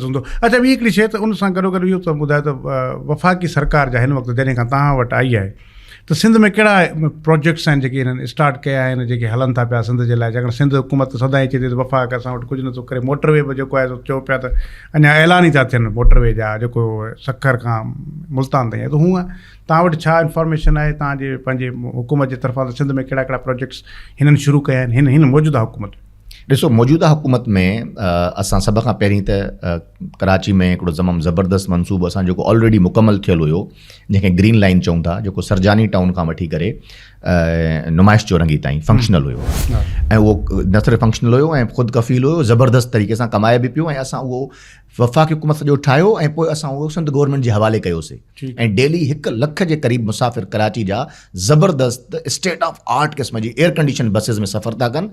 هوندو. اچا ٻي هڪڙي شيء ته ان سان گڏوگڏ اهو ته ٻڌايو ته وفاقي سرڪار جا هن وقت جڏهن کان توهان وٽ آئي آهي ته سنڌ ۾ ڪهڙا پروجيڪٽس آهن جيڪي هنن اسٽارٽ ڪيا آهن ۽ جيڪي هلن ٿا پيا سنڌ جي لاء ڇاڪاڻ سنڌ حڪومت ته سدائين چئي ٿي ته وفاق اسان وٽ ڪجهه نٿو ڪري موٽر وي به جيڪو آهي سو چئو پيا ته اڃا اعلان ئي ٿا ٿين موٽر وي جا جيڪو سکر کان ملتان تائين ته هونئن توهان وٽ ڇا انفارميشن آهي توهان جي پنهنجي حڪومت جي طرفان ته سنڌ ۾ ڪهڙا ڪهڙا پروجيڪٽس هنن شروع ڪيا آهن هن هن موجوده حڪومت ڏسو موجوده حڪومت ۾ اسان سڀ کان پهرين ته ڪراچي ۾ هڪڙو تمام زبردست منصوبو اسان جيڪو آلريڊي مڪمل ٿيل هيو جنهن کي گرين لائن چون ٿا جيڪو سرجاني ٽائون کان وٺي ڪري نمائش چورنگي تائين فنڪشنل هيو ۽ اهو نه صرف فنڪشنل هيو ۽ خود ڪفيل هيو زبردست طريقي سان ڪمائي به پيو ۽ اسان اهو وفاقي حڪومت سڄو ٺاهيو ۽ پوء اسان اهو سنڌ گورنمينٽ جي حوالي ڪيوسي ۽ ڊيلي هڪ لک جي قريب مسافر ڪراچي جا زبردست اسٽيٽ آف آرٽ قسم جي ايئر ڪنڊيشن بسز ۾ سفر ٿا ڪن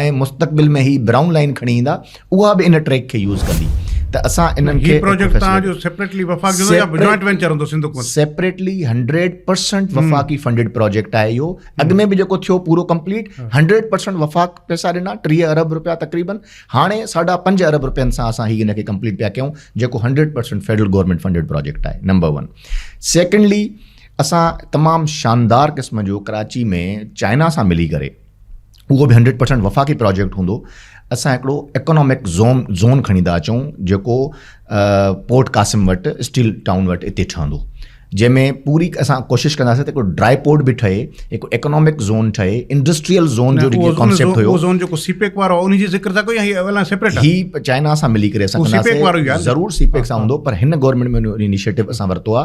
۽ مستقبل ۾ هي برائون لائين کڻي ايندا اها به ان ٽريڪ کي يوز ڪندي ته اسان انهن کي هي پروجيڪٽ تان جو سيپريٽلي وفاق جو يا جوائنٽ وينچر هوندو سنڌ حڪومت سيپريٽلي 100% وفاقي فنڊيڊ پروجيڪٽ آهي اهو اڳ ۾ به جيڪو ٿيو پورو ڪمپليٽ 100% وفاق پئسا ڏنا 30 ارب روپيا تقريبا هاڻي ساڍا پنج ارب روپين سان اسان هي ان کي ڪمپليٽ پيا ڪيون جيڪو 100% فيڊرل گورنمنٽ فنڊيڊ پروجيڪٽ آهي نمبر 1 سيڪنڊلي اسان تمام شاندار قسم جو ڪراچي ۾ چائنا سان ملي ڪري اهو به هنڊريڊ پرسينٽ وفاقي پراجيڪٽ هوندو اسان هڪڙو ايڪونامڪ زون زون کڻي ٿا اچون جيڪو پورٽ قاسم وٽ اسٽيل ٽائون وٽ اتي ٺهندو جنهن ۾ پوري اسان ڪوشش ڪنداسين ته هڪو ڊرائي پورٽ به ٺهي هڪ ايڪونامڪ زون ٺهي انڊسٽريل زون جو جيڪو ڪانسيپٽ هيو زون جيڪو سي پيڪ وارو ان جي ذڪر ٿا ڪيو هي اول سيپريٽ هي چائنا سان ملي ڪري اسان سي پيڪ وارو يار ضرور سي پيڪ سان هوندو پر هن گورنمنٽ ۾ انيشيٽو اسان ورتو آ